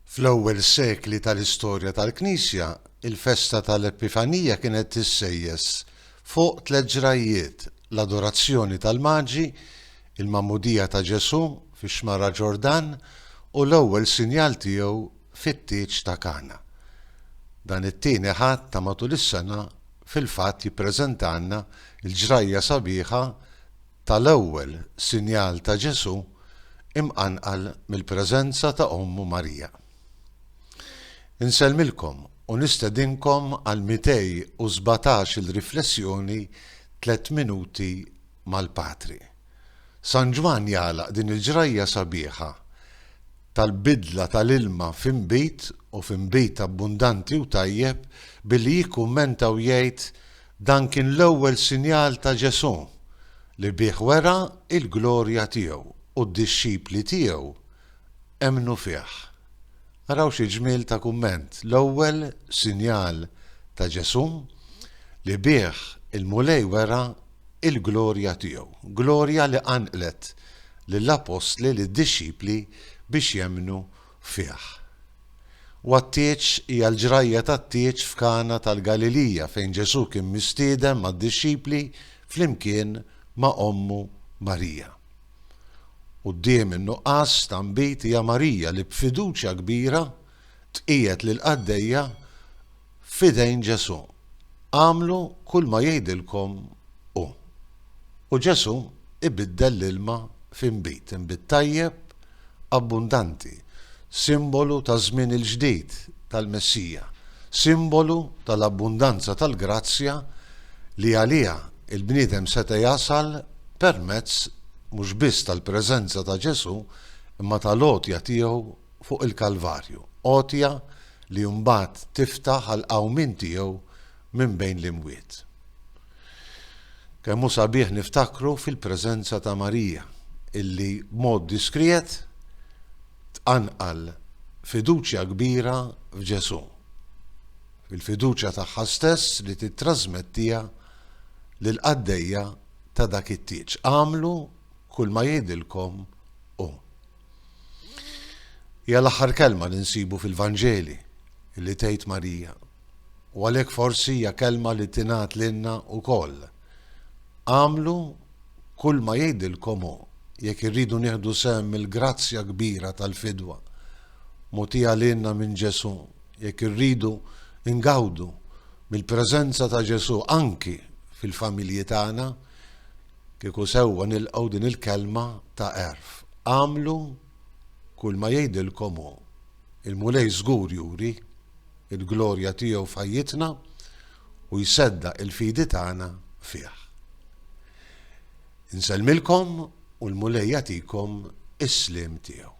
Fl-ewwel sekli tal-istorja tal-Knisja, il-festa tal-Epifanija kienet tissejjes fuq tliet ġrajjiet, l-adorazzjoni tal-Maġi, il-magħmudija ta' Ġesù fix-xmara Ġordan, u l-ewwel sinjal tiegħu fit-tieġ ta' Kana. Dan it-tieni Ħadd ta' matul is-sena fil-fatt jippreżentalna l-ġrajja sabiħa tal-ewwel sinjal ta' Ġesù imqanqal mill-preżenza ta' ommu Marija. Insellmilkom u nistedinkom għal 217 il riflessjoni Tliet Minuti mal-Patri. San Ġwann jagħlaq din il-ġrajja sabiħa tal-bidla tal-ilma f'inbid u f'inbid abbundanti u tajjeb billi jikkummenta u jgħid, Dan kien l-ewwel sinjal ta' Ġesù li bih wera l-glorja tiegħu u d-dixxipli tiegħu emmnu fih. Araw xi ġmiel ta' kumment, l-ewwel sinjal ta' Ġesù li bih il-Mulej wera l-glorja tiegħu, glorja li qanqlet lill-appostli, lid-dixxipli biex jemmnu fih. U għat-tieġ hija l-ġrajja tat-tieġ f'Kana tal-Galilija fejn Ġesù kien mistieden mad-dixxipli flimkien ma' ommu Marija. Quddiem in-nuqqas ta' nbid hija Marija li b'fiduċja kbira tqiegħed lill-qaddejja f'idejn Ġesù, agħmlu kull ma jgħidilkom hu. U Ġesù ibiddel l-ilma f'inbid, inbid tajjeb, abbundanti, simbolu taż-żmien il-ġdid tal-Messija, simbolu tal-abbundanza tal-grazzja li għaliha l-bniedem seta' jasal permezz mhux biss tal-preżenza ta' Ġesù imma tal-għotja tiegħu fuq il-Kalvarju, għotja li mbagħad tiftaħ għall-qawmien tiegħu minn bejn l-imwiet. Kemm hu sabiħ niftakru fil-preżenza ta' Marija, illi b'mod diskriet tqanqal fiduċja kbira f'Ġesù, fil-fiduċja tagħha stess li tittrażmettiha lill-qaddejja ta' dak it-tieġ, Agħmlu kulma jgħidilkom hu. Hija l-aħħar kelma li nsibu fil-Vanġeli li tgħid Marija u għalhekk forsi hija kelma li tingħad lilna wkoll. Għamlu kull ma jgħidilkom hu jekk irridu nieħdu sehem mill-grazzja kbira tal-fidwa mogħtija lilna minn Ġesù, jekk irridu ngawdu mill-preżenza ta' Ġesù anki fil-familji tagħna, Kieku sewwa nilqgħu din il-kelma ta' għerf, agħmlu kulma jgħidilkom hu. Il-Mulej żgur juri l-glorja tiegħu f'ħajjitna u jseddaq il-fidi tagħna fih. Insellmilkom u l-Mulej jagħtikom is-sliem tiegħu.